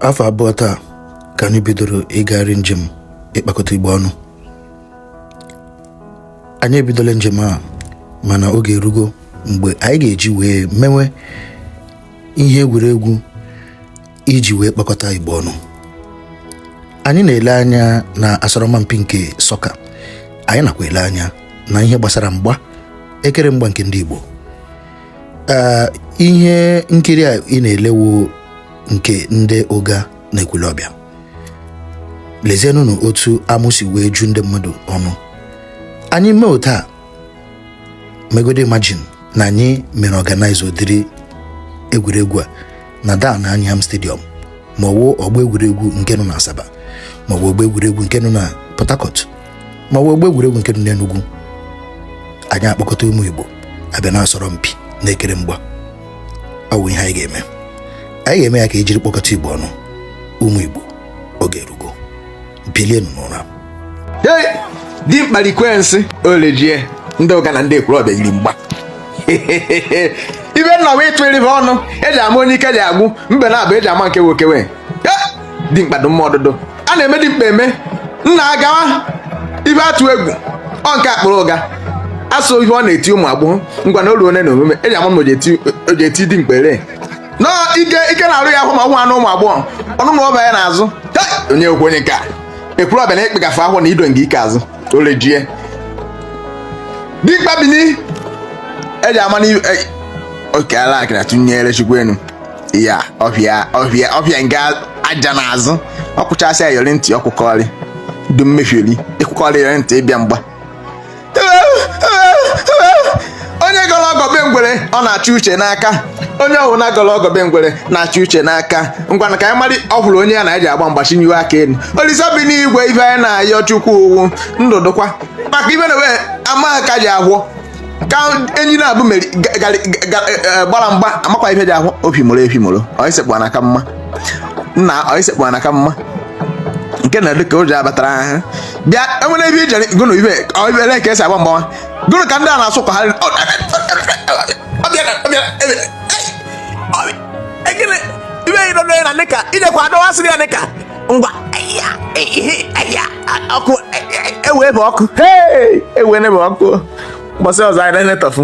afọ abụọ taa ka anyị bidoro ịgagharị njem ịkpakọta Igbo ọnụ anyị ebidola njem a mana oge erugo mgbe anyị ga-eji wee mewe ihe egwuregwu iji wee kpakọta Igbo ọnụ anyị na-ele anya na asọrọmpi nke sọka anyị nakwa ele anya na ihe gbasara mgba ekere mgba nke ndị Igbo ee ihe nkiri a ị na-elewo nke ndị ụga na ekwulọbịa lezienụnụ otu amụ si wee ju ndị mmadụ ọnụ anyị mee otu a megode imagine na anyị mere organize ụdịrị egwuregwu a na dan anyiam stadium ma ọ wụ ọgbọ egwuregwu nke nọ na asaba ma ọ wụ ọgbọ egwuregwu nke nọ na port harcourt ma ọ wụ ọgbọ egwuregwu nke nọ n'Enugu anyị akpọkọta ụmụ Igbo abịa na-asọrọ mpi na-ekere mgba ọ bụ ihe anyị ga-eme anyị ga-eme ya ka ejiri kpọkọta Igbo ọnụ ụmụ Igbo oge erugo bilienụ n'ụra di mkpalikwe nsị olejie ndị ụga na ndị ekwulọbịa yiri mgba ibe nna wee tụrụ ibe ọnụ eji ama onye ike ji agwụ mbe na abụ eji ama nke nwoke wee dimkpa dị mma ọdụdụ a na-eme dimkpa eme nna agawa ibe atụ egwu ọ nke akpụrụ ụga asụ ihe ọ na-eti ụmụ agbọghọ ngwa na olu one na omume eji ama m o ji eti dimkpa ere nọ ike ike na-arụ ya ahụ ma nwa anụ ụmụ agbọghọ ọnụ na ọba ya n'azụ onye okwu onye ka ekwulọbịa na ịkpịgafe ahụ na ido nke ike azụ orejie dimkpa bini eji ama na oke ala akịna tụnyere chukwu enu ya ọhịa ọhịa ọhịa nga aja n'azụ ọ kwụchasị ayọrị ntị ọkwụkọrị du mmefiri ịkwụkọrị ayọrị ntị ịbịa mgba onye gọrọ ọgọbe ngwere ọ na-achụ uche n'aka onye ọhụrụ na-agọrọ ọgọbe ngwere na-achụ uche n'aka ngwana ka anyị mara ọ hụrụ onye ya na anyị ji agba mgba chịnyiwe aka elu olise bi n'igwe ife anyị na-ayọ chukwu ọ wụ ndụ dụkwa maka ibe na wee amaghị ka ji agwọ ka enyi na-abụ meri ga- ga- ga- eh, eh, gbara mgba amakwa ife ji ahụ opi mụrụ efi mụrụ ọisekpụ na ka mma nna ọisekpụ na ka mma nke na dịka ụjọ abatara ahụ bịa enwere ebe ijere gụnụ ibe ọ ibe ele ka esi agba mgbawa gụnụ ka ndị a na-asụ ka ha ọ- ọ- ọ bịara, ọ bịara, ebe- ei, ọ bịa- ekele, ibe yi nọ n'onye na nịka, ijekwa adọwasịrị ya nịka ngwa ọkụ ewe bụ ọkụ ewe bụ ọkụ gbasa ọzọ anyị na-enetọfụ